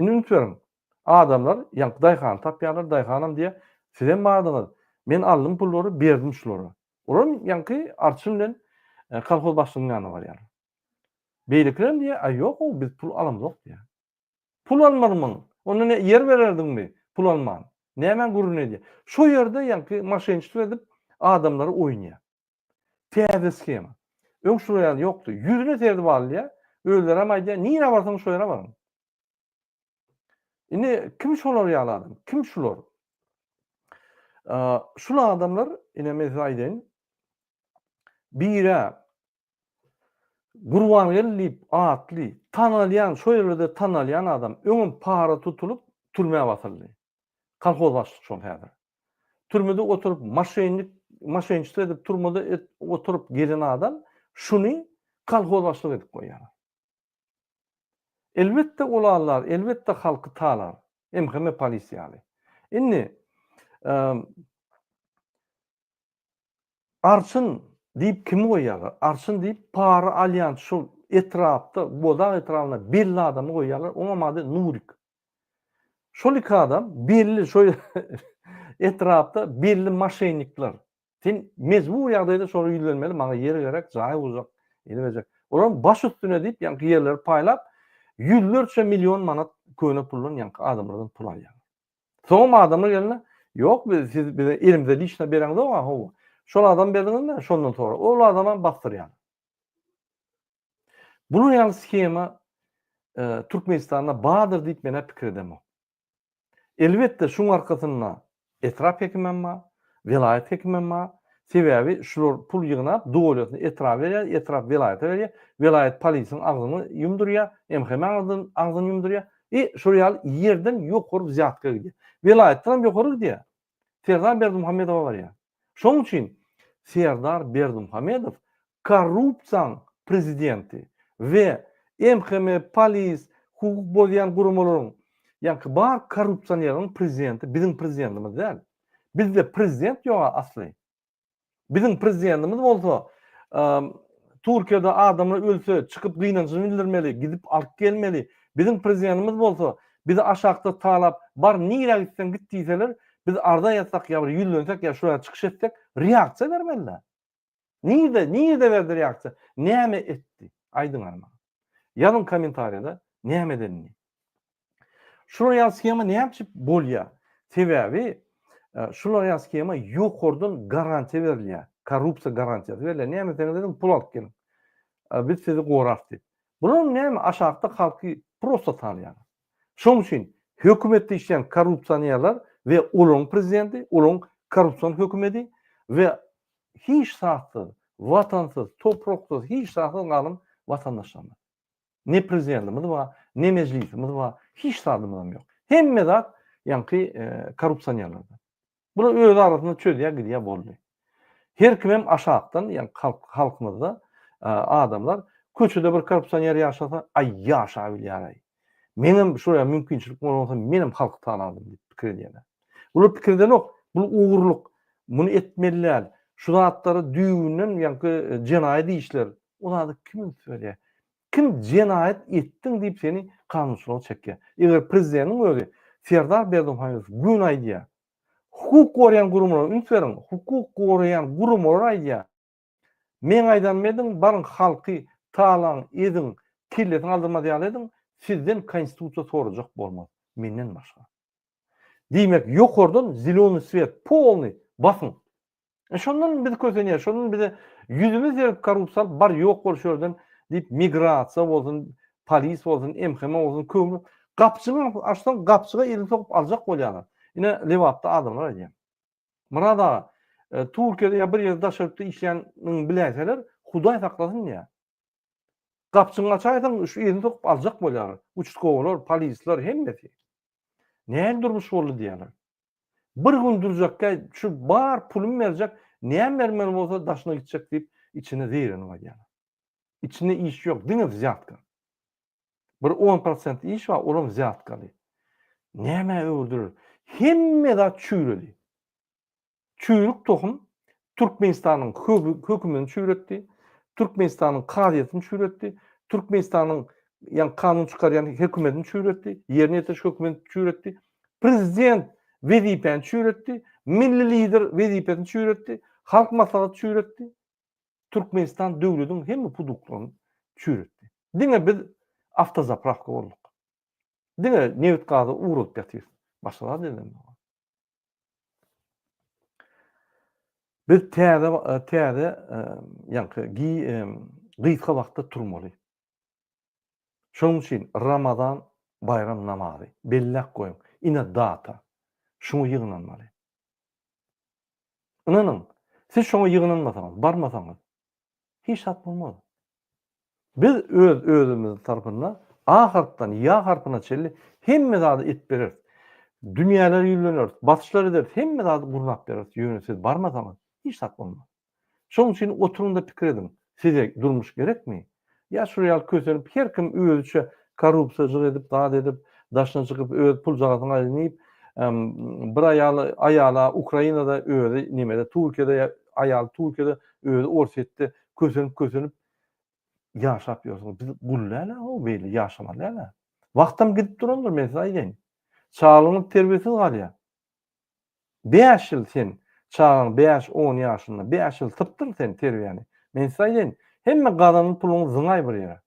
Indi üns beriň. Adamlar ýaňky daýhany tapýarlar, daýhanam diýýär, sizem bardyňyz, men aldym pullary, berdim şulara. Olam ýaňky arçyn bilen kolhoz başlygynyň ýanyna barýarlar. Beýlekilerem diýýär, aý ýok-ow biz pul alamzok diýýär. Pul almarmyň? Onda ne, ýer bererdiňmi? Pul alman. Nämäň gürrüni edýär? Şo ýerde ýaňky moşenniçelik edip, adamlary oýnaýar. Täze skema. Öň şular ýaly ýokdy. Ýüzüne serdip alýar. Özlerem aýdýar, nirä barsaň şo ýere baryň. Indi kim şolar ýaly adam? Kim şular? Şul adamlar, ine men size aýdaýyn, birä Gurbangeldi diýip atly, tanalýan, şo ýerlerde tanalýan adam, öňem para tutulyp, türmä basyldy. Kolhoz başlyk şol häzir. Türmede oturyp, maşennik, maşenniçe edip türmede oturyp gezen adam, şuny kolhoz başlyk edip goýýarlar. Elbetde ol allar, elbetde halky talar. MHM polisiýaly. Indi, Arçyn diýip kimi goýýarlar? Arçyn diýip para alýan şol etrapda, Bozag etrabynda belli adamy goýýarlar, oňam ady Nurik. Şol iki adam belli şo etrapda belli maşennikler. Sen mejbury ýagdaýda şolara ýüzlenmeli, maňa ýer gerek, jaý uzak, eli berjek. Olar baş üstüne diýip ýaňky ýerleri paýlap, ýüzlerçe million manat köne puldan ýaňky adamlardan pul alýarlar. Soňam adamlar gelende, Ýok, biz siz bize elimize liçno bereňzok-a, hawa. Şol adam berdiňizmi? Şondan sorak. Ol adamam basdyrýar. Bular ýaly sgema Türkmenistanda bardyr diýip men-ä pikir edemok. Elbetde şuň arkasynda etrap hekimem bar, welaýat hekimem bar. Sebäbi şular pul ýygnap, doliýasyny etrap berýär, etrap welaýata berýär, welaýat polisiň agzyny ýumdurýar, MHM-iň agzyny ýumdurýar. I şol ýaly ýerden ýokary wzýatka gidýär. Welaýatdan hem ýokary gidýär. Serdar Berdimuhamedowa barýar. Şonuň üçin Serdar Berdimuhamedow korrupsiýaň prezidenti we MHM, polis, hukuk bozýan guramalaryň, ýaňky bar korrupsioneriň prezidenti biziň prezidentimiz däl. Bizde prezident ýog-a asly. Biziň prezidentimiz bolsa Türkiýede adamlar ölse çykyp gynanjyny bildirmeli, gidip alyp gelmeli. Biziň prezidentimiz bolsa bizi aşakda talap bar nirä gitseň git diýseler biz arza ýazsak ýa bir ýüzlensek ýa şular çykyş etsek reaksiýa bermelidä. Nirde, nirde berdi reaksiýa? Näme etdi? Aýdyň maňa. Ýazyň kommentariýada näme edenini. Şu roýal skema näme üçin bolýar? Sebäbi e, şu roýal skema ýokardan garantiýa berilýär. Korrupsiýa garantiýasy berilýär. Näme deseňiz deň pul alyp geliň. E, biz sizi gorap diýip. Bular näme aşakda halky prosta salýar. Şoň üçin hökümetde işleýän korrupsionerler we olaryň prezidenti, olaryň korrupsion hökümeti we hiç zatsyz, watansyz, topraksyz, hiç zatsyz galan watandaşlarymyz. Ne prezidentimiz bar, ne mejlisimiz bar, hiç zadymyzam ýok. Hemme zat ýaňky korrupsionerlerde. Bular öz arasynda çözýär gidýär boldy. Her kimem aşakdan ýaňky halk halkymyzda adamlar köçede bir korrupsioner ýaşasa, aý ýaşabilýär-aý. Meňem şuraya mümkinçilik bolan bolsa menem halky talardim diýip pikir edýärler. Bular pikir edenok, bu ogurlyk, muny etmeli däl, şu zatlara düýbünden ýaňky jenaýat işler Ol ady kim üns berýär? Kim jenaýat etdiň diýip seni kanunçylyga çekýär? Eger prezideniň özi Serdar Berdimuhamedow gün aýdýar, hukuk goraýan gurumlara üns beriň, hukuk goraýan gurumlar aýdýar, meň aýdanym ediň, baryň halky talaň, eziň, kellesini aldyrmaz ýaly ediň, sizden konstitusiýa sorajak bolmaz, menden başga. Diýmek ýokardan zelony swiet polnyý basyň. E şondan biz kösenýär, şondan bize ýüzümiz berip korrupsiýa bar ýok bolşy ýerden diýip migrasiýa bolsun, polis bolsun, MHM bolsun köwni gapjygy açsaň gapjyga elini sokup aljak bolýarlar. Ine Lebapda adamlar aýdýar. Murad aga, e, Türkiýede ýa bir ýerde daşary ýurtda işleýänini biläýseler, Hudaý saklasyn diýýär. Gapjyňy açaýsaň, şu elini sokup aljak bolýarlar. Uçutkowalar, polisler hemmesi. Näme durmuş boldy diýýärler. Bir gün durjakka şu bar pulum berjek, näm bermeli bolsa daşyna gitjek diýip, içine zeýrenip alýar. Içinde iş ýok, diňe wzýatka. Bir on prosent iş bar, olam wzýatkaly. Nämä öwürdiler? Hemme zat çüýredi. Çüýrük tohum, Türkmenistanyň hökümini çüýretdi, Türkmenistanyň kazyýetini çüýretdi, Türkmenistanyň ýa kanun çykarýan hökümetini çüýretdi, ýerine ýetiriş hökümetini çüýretdi, prezident wezipäni çüýretdi, milli lider wezipesini çüýretdi, halk maslahaty çüýretdi, Türkmenistan döwletiň hemme puduklaryny çüýretdi. Diňe biz awtozaprawka bolduk. Diňe nebit-gazy ugradyp ýatyrys. Başga zat edemok. Biz täze täze ýaňky gysga wagtda turmaly. Şonuň üçin Ramazan baýram namazy belläp goýuň. Ine data. Şuňa ýygnanmaly. Ynanyň, siz şoňa ýygnanmasaňyz, barmasaňyz, Hiç zat bolmaz. Biz öz özümiz tarapyndan A harpdan ýa harpyna çenli hemme zady edip bereris. Dünýäleri ýüzleneris, basyşlar ederis, hemme zady gurnap bereris, ýöne siz barmasaňyz hiç zat bolmaz. Şonuň üçin oturyň-da pikir ediň, size durmuş gerekmi? Ýa şular ýaly kösenip her kim özüçe korrupsiýaçylyk edip zat edip daşyna çykyp öz puljagazyny aýdyn diýip bir aýaly aýala Ukrainada özi nimede Turkiýada ýa aýaly Turkiýada özi Orsýetde kösenip kösenip ýaşap ýörsüňiz biz gul däl a hoo beýle ýaşamaly däl a wagtam gidip durandyr men size aýdaýyn çagalaryňyz terbiýesiz galýar Bäş ýyl sen, çagaň bäş-on ýaşynda, bäş ýyl sypdyň sen terbiýäni. Men size aýdaýyn, hemme gazanan puluňy zyňaý bir ýere.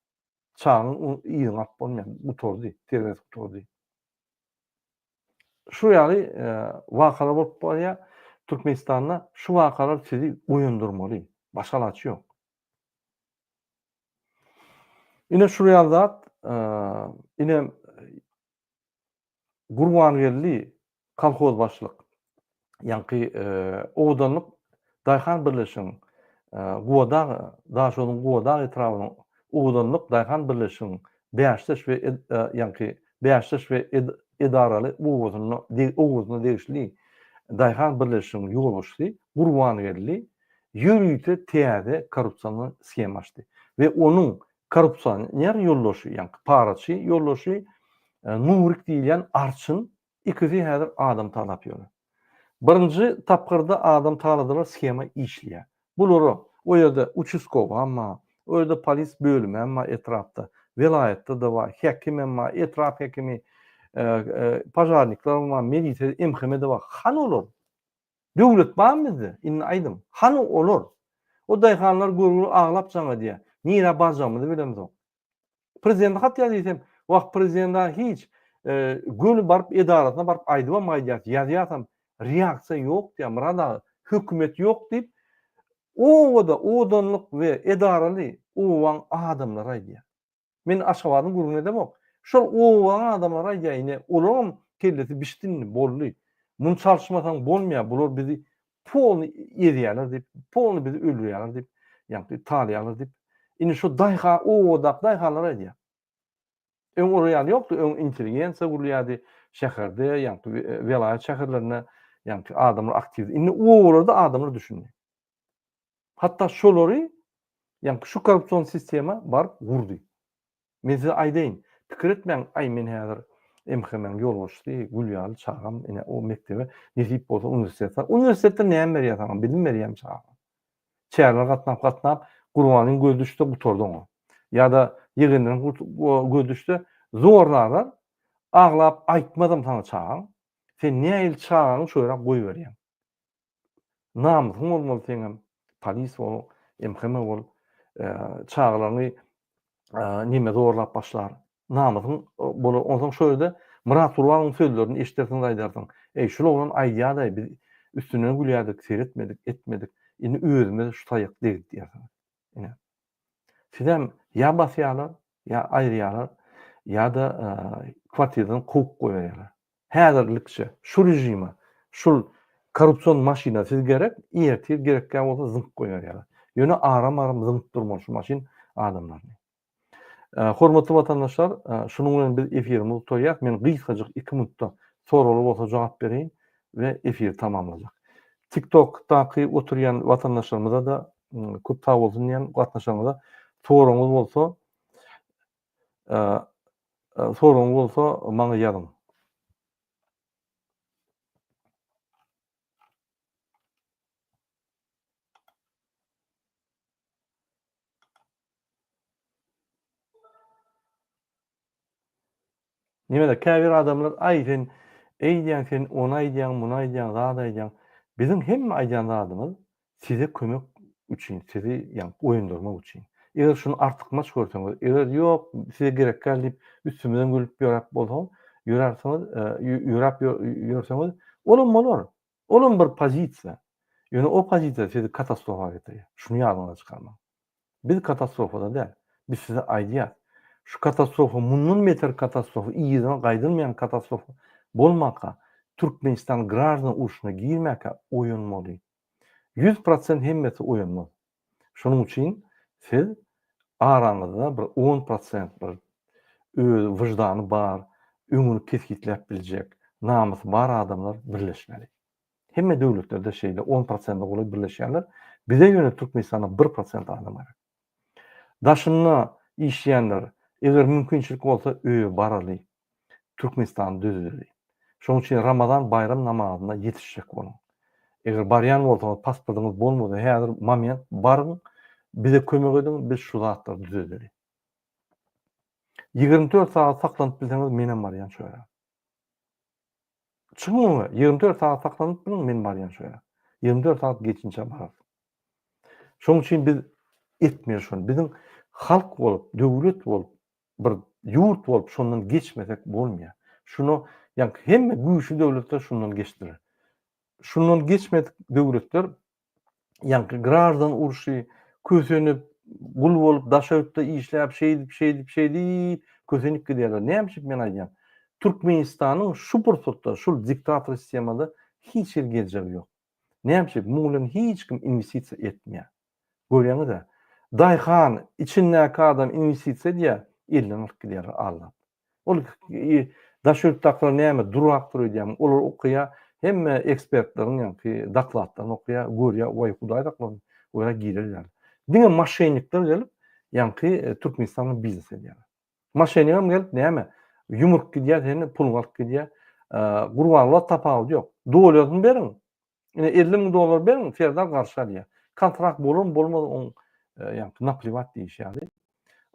Çagaň yzyny alyp bolmaýar, gutardy, terbiýesi gutardy. Şu ýaly wakalar bolup barýar. Türkmenistanda şu wakalar sizi oýandyrmaly. Başga alaç ýok. Ine şu real zat, ine Gurbangeldi kolhozbaşlyk, ýaňky Owadanlyk daýhan birleşigiň Gubadag, Daşoguzyň Gubadag etrabynyň Owadanlyk daýhan birleşigiň bäşdeş we ýaňky bäşdeş we edaraly obasyna degişli daýhan birleşigiň ýolbaşçysy Gurbangeldi ýörite täze korrupsion sgema açdy we onuň Korrupsioner ýoldaşy, ýaňky paraçy ýoldaşy Nurik diýilýän arçyn, ikisi häzir adam talap ýör. Birinji tapgyrda adam taladylar shema işleýä. Bulara o ýerde uçuskowam bar, o ýerde polis bölümem bar etrapda, welaýatda-da bar, häkimem bar, etrap häkimi, pažarniklerem bar, milisiýa, MHM-de bar. Hany olar? Döwlet barmy bizde? Indi aýdyň, hany olar? O daýhanlar görgüli aglap jaň edýär. Nirä barjagymyzy bilemzok. Prezidente hat ýaz diýsem, wah, prezident-ä hiç, göni baryp edarasyna baryp aýdybam gaýdýas, ýazýasam, reaksiýa ýok diýýär. Myrat aga, hökümet ýok diýip, obada odanlyk we edaraly obaň adamlary aýdýar. Men Aşgabadyň gürrüňini edemok. Şol obaň adamlary aýdaýyny, olaram kellesi bişdinmi, boldy. Muny çalyşmasaň bolmaýar, bular bizi polny ezýärler diýip, polny bizi öldürýärler diýip, ýagny talaýarlar diýip, indi şu daýha obadaky daýhanlar aýdýar. Öň olar ýaly ýokdy, öň intelligensiýa gurulýardy, şäherde, ýagny welaýat şäherlerinde, ýagny adamlar aktiw. Indi obalarda adamlar düşündi. Hatda şolary, ýaňky şu korrupsion sistema baryp gurdy. Men size aýdaýyn, pikir etmäň, aý men häzir MHM-iň ýolbaşçysy, gül ýaly çagam, ine, o mekdebe, nesip bolsa uniwersitete, uniwersitetde näme berýär saňa, bilim berýärmi çagaňa? Çärelere gatnap, gatnap, Gurbanyň gözi düşse gutardy oňa. Ýa-da ýegenleriň gözi düşse zorna alar, aglap aýtmazam saňa çagaň. Sen nähili çagaňy şo ýere goýberýäň? Namysyň bolmaly seňem. Polis bol, MHM bol. Çagalaryňy neme zorlap başlar. Namysyň bolar. Onsoň şo ýerde Myrat Gurbanowyň sözlerini eşidersiň-de aýdarsyň. Eý, şul oglan aýdýarda-aý, biz üstünden gülýärdik, seretmedik, etmedik. Indi özümize şu taýak degdi diýersiň. Ine. Sizem ýa basýarlar, ýa aýyrýarlar, ýa-da kwartiradan kowup goýberýärler. Häzirlikçe şu režime, şul korrupsion maşyna siz gerek, ertir gerekkä bolsa zyňyp goýberýärler. Ýöne aram-aram zyňyp durmaly şu maşyn adamlaryny. Hormatly watandaşlar, şunuň bilen biz efirimizi gutaryas. Men gysgajyk iki minutda soraglar bolsa jogap bereýin we efiri tamamlajak. TikTokdaky oturýan watandaşlarymyza-da köp sag bolsun diýýän gatnaşanyňyza. Soragyňyz bolsa, soragyňyz bolsa maňa ýazyň. Nimedir käbir adamlar aý sen eýdýäň sen ony aýdýaň muny aýdýaň zat aýdýaň. Biziň hemme aýdýan zadymyz size kömek üçin sizi ýa oýundyrmak üçin. Eger şuny artykmaç görseňiz eger ýok size gerek däl diýip üstümizden gülüp ýöräp bolsa ýörärsiňiz ýöräp ýörseňiz olam bolar. Olam bir pozisiýa. Ýöne o pozisiýa sizi katastrofa getirýär. Şuny ýadyňyzdan çykarmaň. Biz katastrofada däl. Biz size aýdýas. Şu katastrofa mundan beter katastrofa yzyna gaýdylmaýan katastrofa bolmaka, Türkmenistan graždan urşuna girmäkä oýanmaly. Ýüz prosent hemmesi oýanmaz. Şonuň üçin siz araňyzda bir on prosent bir öz wyždany bar, öňüni kesgitläp biljek, namysy bar adamlar birleşmeli. Hemme döwletlerde şeýle on prosente golaý birleşýärler. Bize ýöne Türkmenistanda bir prosent adam gerek. Daşynda işleýänler, eger mümkinçilik bolsa öýe baraly, Türkmenistan düzüldi. Şonuň üçin Ramazan baýram namazyna ýetişjek boluň. Eger barýan bolsaňyz, pasportyňyz bolmasa, häzir moment, baryň, bize kömek ediň, biz şu zatlary düzedeli. Ýigrimi dört sagat saklanyp bilseňiz, menem barýan şu ýere. Çykyň öňe, ýigrimi dört sagat saklanyp biliň, men barýan şu ýere. Ýigrimi dört sagat geçinçä bararys. Şonuň üçin biz etmeli şony. Biziň halk bolup, döwlet bolup, bir ýurt bolup şondan geçmesek bolmaýar. Şuna ýaňky hemme güýçli döwletler şundan geçdiler. Şundan geçmedik döwletler ýaňky graždan urşy kösenip, gul bolup, daşötde işläp, şeýdip, şeýdip, şeýdip kösenip gidýärler. Näme üçin men aýdýan? Türkmenistanyň şu pursatda şul diktator sistemada hiç hili geljegi ýok. Näme üçin? Muň bilen hiç kim inwestisiýa etmeýär. Görýäňiz-ä. Daýhan, içindäki adam inwestisiýa edýär, elden alyp gidýär aldap. Ol daş ýurtdakylar näme durak dur öýdýärmi? Olar okaýar, hemme ekspertleriň ýaňky dokladlaryny okaýar, görýär, waý hudaý saklasun, olar gireli ýaly. Diňe maşennikler gelip, ýaňky Türkmenistan bilen biznes edýär. Maşenigem gelip näme, ýumrup gidýär seni, puluňy alyp gidýär. Gurbanguly tapawudy ýok. Dolaryny beriň, Ine 50 müň dollar beriň, Serdar garşy alýar. Kontrakt bolarmy, bolmazmy, oň e, ýa napliwat diýişi ýaly.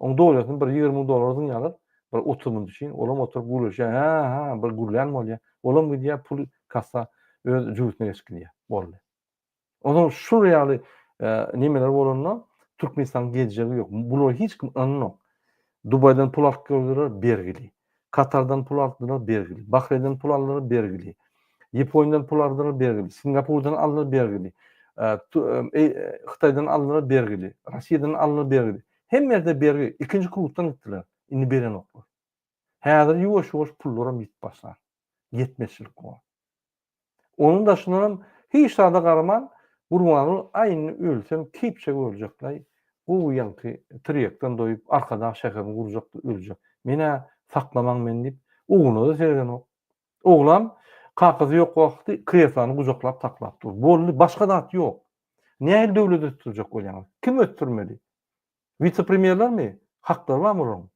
Oň dowlatyny bir 20 müň dollar öňe alyp, bir 30 müň üçin olam oturyp gürleşýär. Ha, ha, bir gürlän bolýar. Olam gidýär, pul kassa öz jübütine geçip gidýär. Boldy. Onuň şu ýaly e, nemeler bolanda Türkmenistanyň geljegi ýok. Bulara hiç kim ynanok. Dubaýdan pul alyp geldiler, bergili. Katardan pul aldylar, bergili. Bahreýnden pul aldylar, bergili. Ýaponiýadan pul aldylar, bergili. Singapurdan aldylar, bergili. Hytaýdan aldylar, bergili. Russiýadan aldylar, bergili. Hemme ýerde bergi. Ikinji krugdan gitdiler. Indi berenoklar. Häzir ýuwaş-ýuwaş pullaram ýitip başlar. Ýetmezçilik bor. Onuň daşyndanam hiç zada garaman, Gurbanguly aýnny ölsem keýpjek öljekläý, gowy ýaňky tirýekden doýup Arkadag şäherini gurjakdy öljek. Men-ä saklamaň men diýip, ugruna-da seredenok. Oglan kakasy ýok wagty kreslony gujaklap saklap dur. Boldy, başga zat ýok. Nähili döwlet ösdürjek bolýaňyz? Kim ösdürmeli? Wise-premýerlermi? Haklary barmy olaryň?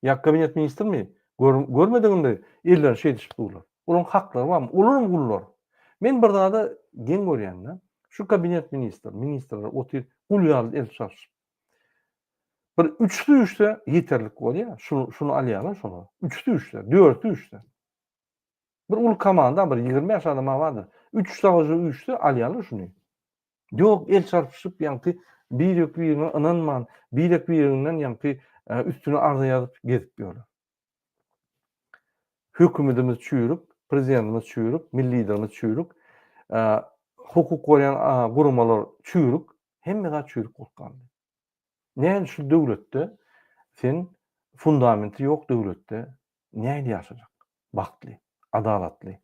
Ýa kabinet ministrimi? Görmedigimde ellerini şeýdişip durlar. Olaryň haklary barmy? Olaram gullar. Men bir zada geň görýän-dä. Şu kabinet ministr, ministrler otyr, gul ýaly el çalşyp. Bir üçüsi düşse ýeterlik bolýa. Şuny, şuny alýarlar şolar. Üçüsi düşse, dörti düşse. Bir uly komanda, bir ýigrimi bäş adam bardyr. Üç-üç dagy düşse alýarlar şuny. Ýok, el çarpyşyp, ýaňky birek-birine ynanman, birek-bireginden ýaňky üstüne arza ýazyp gezip ýörler. Hökümedimiz çüýrük, prezidentimiz çüýrük, milli Liderimiz çüýrük, hukuk gorýan guramalar çüýrük, hemme zat çüýrük bolup galdy. Nädip şu döwletde sen fundamenti ýok döwletde nädip ýaşajak bagtly, adalatly,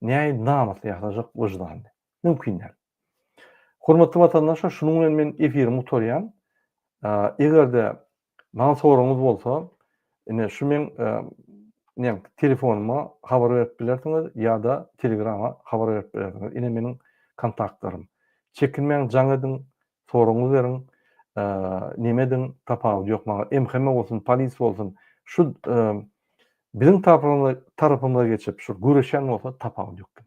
nädip namysly ýaşajak wyždanly? Mümkin däl. Hormatly watandaşlar şunuň bilen men efirimi gutarýan. Eger-de maňa soragyňyz bolsa, ine şu meň ne telefonyma habar berip bilersiňiz ýa-da telegrama habar berip bilersiňiz. Ine meniň kontaktlarym. Çekinmäň jaň ediň, Soragyňy beriň neme ediň tapawudy ýok maňa MHM bolsun polis bolsun şu biziň tarapymyza geçip şu göreşen bolsa tapawudy ýok diň.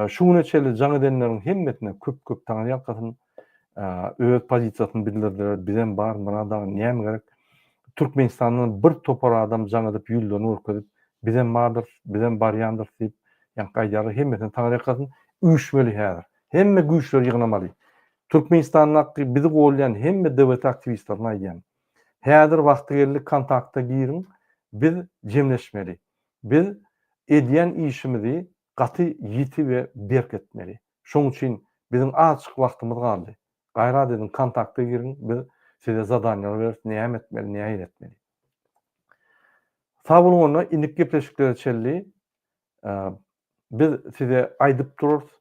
Şu güne çenli jaň edenleriň hemmesine köp köp taňry ýalkasyn öz pozisiýasyny bildirdiler bizem bar Myrat aga näme gerek Türkmenistandan bir topar adam jaň edip ýüzlerini görkezip bizem bardyrys bizem barýandyrys diýip ýaňky aýdýarlar hemmesine taňry ýalkasyn üýşmeli häzir Hemme güýçleri ýygnamaly. Türkmenistandaky bizi golýan hemme DWT aktiwistlerine aýdýan. Häzir wagty geldi kontakta giriň biz jemleşmeli. Biz edýän işimizi gaty ýiti we berk etmeli. Şoň üçin biziň azjyk wagtymyz galdy. Gaýrat ediň kontakta giriň biz size zadanýalar beris näme etmeli nähili etmeli. Sag boluň onda indik gepleşiklere çenli Biz size aýdyp durarys,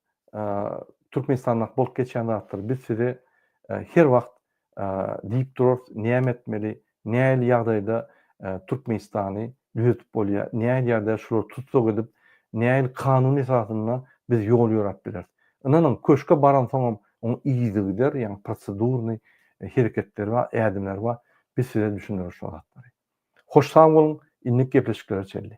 Türkmenistanda bolup geçýän zatlary biz size her wagt diýip durarys, näme etmeli, nähili ýagdaýda Türkmenistany düzetip bolýar, nähili ýagdaýda şulary tussag edip, nähili kanun esasynda biz ýol ýöräp bileris. Ynanyň, köşge baransoňam onuň yzygider, ýagny prosedurnyý hereketleri bar, ädimleri bar. Biz size düşündireris şol zatlary. Hoş sag boluň, indi gepleşiklere çenli.